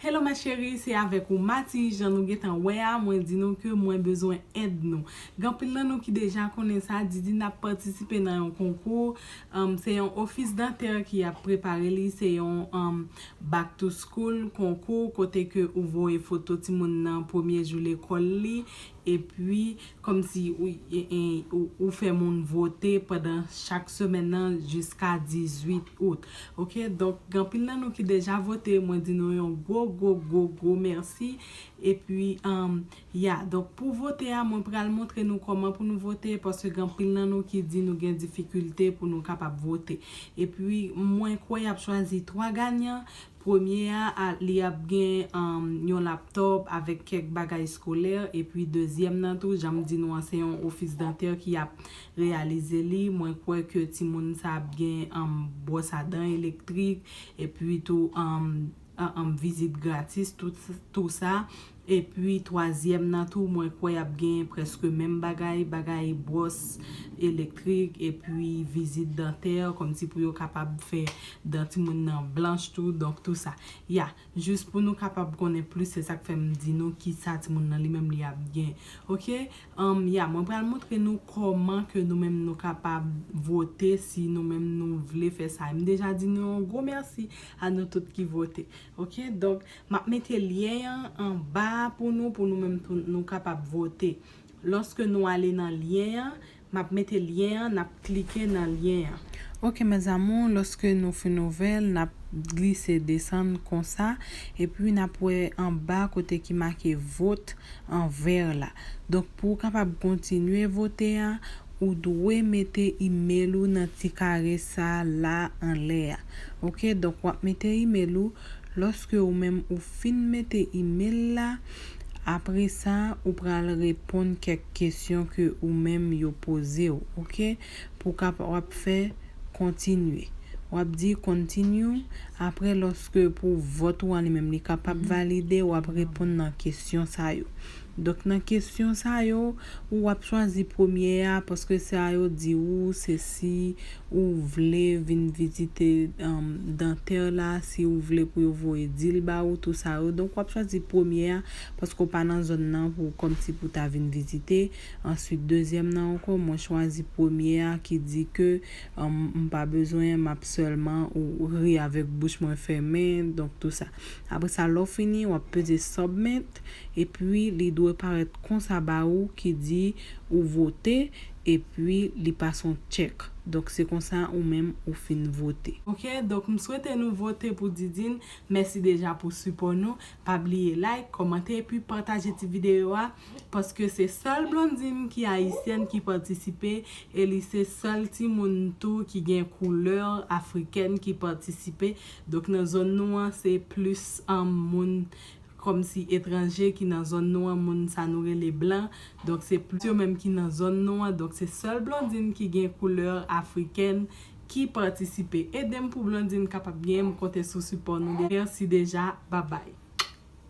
Hello mes cherie se avek ou Mati jan nou gentan wè a mwen di nou ke mwen bezwen èd nou gen anpil nan nou ki deja konnen sa Didine ap patisipe nan yon konkou humm se yon office dentaire ki ap prepare li se yon humm back to school konkou kote ke ou voye foto timoun nan premye jou lekòl li Epi, kòmsi ou fè moun vote pandan chak semèn nan jiska 18 out. Ok, donk gen anpil nan nou ki deja vote, mwen di nou yon gwo gwo gwo gwo mèsi. Epi, ya, donk pou vote a, mwen pral montre nou kòman pou nou vote, paske gen anpil nan nou ki di nou gen difikilte pou nou kapab vote. Epi, mwen kwè y ap chwazi 3 ganyan, Premye a, li ap gen yon laptòp avèk kèk bagay skolè, epi dezyèm nan tou, jan m di nou an, se yon ofis dantè ki ap reyalize li, mwen kwè ke timoun sa ap gen bwòs a dan elektrik, epi tou vizit gratis, tou sa, Epi twazyèm nan tou mwen kwè yap gen prèske menm bagay, bagay bwòs elektrik epi vizit dantè kòmsi pou yo kapab fè dan timoun nan blanch tou donk tou sa. Ya, jis pou nou kapab konnen plis se sak fè m di nou kisa timoun nan li menm li ap gen. Ok, umm ya mwen pral montre nou kòman ke nou menm nou kapab vote si nou menm nou vle fè sa. M deja di nou yon gwo mèsi a nou tout ki vote. Ok donk map mete lyen an anba a pou nou pou nou menm tou nou kapab vote loske nou ale nan lyen an map mete lyen an nap klike nan lyen an. Ok mes amours loske nou fin ouvel nap glise desann konsa epi nap wè anba kote ki make vote an vert la donk pou ou kapab kontinye vote a Ou dwe mete email ou nan ti kare sa la anlè a ok donk wap mete email ou lòske ou menm ou fin mete email la apresa ou pral reponn kèk kesyon ke ou menm yo pozew ok pou kap wap fè kontinye wap di continue apre lòske pou vòt ou an li menm li kapab valide wap reponn nan kesyon sa yo. Donk nan kesyon sa yo, ou wap chwazi premye a paske se a yo di ou se si ou vle vin vizite dantè la, si ou vle pou yo voye di l ba ou, tou sa yo. Donk wap chwazi premye a paske ou pa nan zòn nan pou kòm si pou ta vin vizite. Answit dezyèm nan ankò mwen chwazi premye a ki di ke m pa bezwen map sèlman ou ri avèk bouch mwen fèmen donk tou sa. Apre sa lè w fini wap peze submit epi li dwe parèt konsa ba ou ki di ou vote epi li pase yon check donk se konsa ou menm ou fin vote. Ok donk m swete nou vote pou Didine mèsi deja pou sipò nou pa bliye like kòmante epi pataje ti videyo a paske se sèl Blondine ki ayisyèn ki patisipe e li se sèl timoun tou ki gen koulè afrikèn ki patisipe Donk nan zòn nou an se plis moun kòmsi etranje ki nan zòn nou an, moun sa nou rele blan, donk se plis yo menm ki nan zòn nou an, donk se sèl Blondine ki gen koulè afrikèn ki patisipe. Edem pou Blondine kapab genyen m konte sou sipò nou deja. Mèsi deja. Babay.